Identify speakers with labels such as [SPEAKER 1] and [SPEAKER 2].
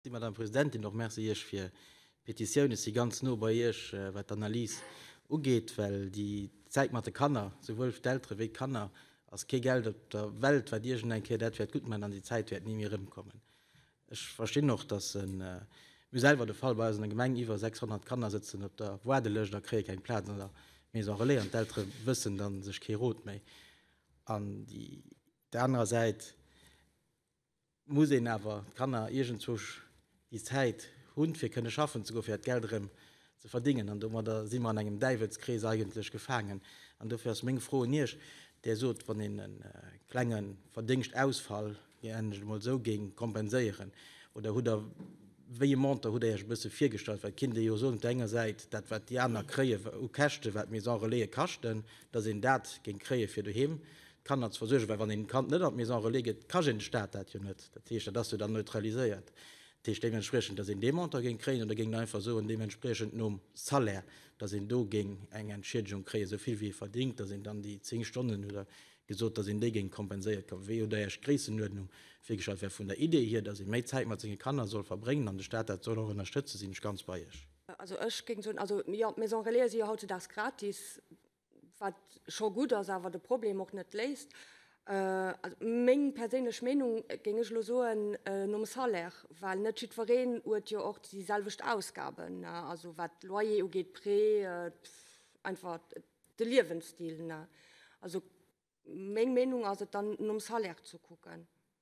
[SPEAKER 1] Dir, Madame Presidentin, och Merci Iech fir d'Petitioun. Ech si ganz no bei Iech, wat d'Analys ugeet, well déi Zäit mat de Kanner, souwuel fir d'Eltere wéi d'Kanner, ass kee Geld op der Welt, wat iergend eng Kéier dat wäert gutt man an déi Zäit wäert ni méi erëmkommen. Ech verstinn och, dass e, mir hu selwer de Fall bei eis an der Gemeng, iwwer 600 Kanner sëtzen op der Waardelëscht a kréie keng Plaz an der Maison relais an d'Eltere wëssen da sech kee Rot méi. An déi anerer Säit, muss een awer d'Kanner iergendzwou déi Zäit hunn, fir kënne schaffen ze goen, fir dat Geld erëm ze verdéngen. An domadder si mer an engem Däiwelskrees eigentlech gefaangen. An dofir ass meng Fro un Iech, Dir sot, wann een e klenge Verdéngschtausfall, nennen ech et emol esou, géing kompenséieren, oder hutt Der wéi e Montant, hutt Der Iech e bësse virgestallt? Well et kinnt ee jo soen, op der enger Säit, dat wat déi aner kréien u Käschte wat Maison Relaie kaschten, datt een dat géing kréien, fir doheem Kanner ze versuergen, well wann een Kand net an d'Maison relais gëtt, ka een de Staat dat jo net. Dat heescht, dat ass jo dann neutraliséiert. Dat heescht deementspriechend, dass een dee Montant géing kréien oder géing der einfach soen, deementspriechend nom Salaire, dass een do géing eng Entschiedegung kréien, esou vill wéi ee verdéngt, dass een dann déi zéng Stonnen oder gesot, dass een déi géing kompenséiert kouwen. Wéi hutt Der Iech d'Gréissenuerdnung virgestallt? Well vun der Idee hier, dass ee méi Zäit mat senge Kanner soll verbréngen an de Staat dat soll och ënnerstëtzen, sinn ech ganz bei Iech. Also ech géing soen,
[SPEAKER 2] also jo, d'Maison relaise si jo hautzedags gratis. wat scho gutt ass, awer de Problem och net léist. Meng perséinlech Meenung géing ech elo soen, nom Salaire, well net jiddwereen huet jo och déi selwecht Ausgaben, also wat Loyer ugeet, Prêt, einfach de Liewensstil. Also meng Meenung ass et dann nom Salaire ze kucken.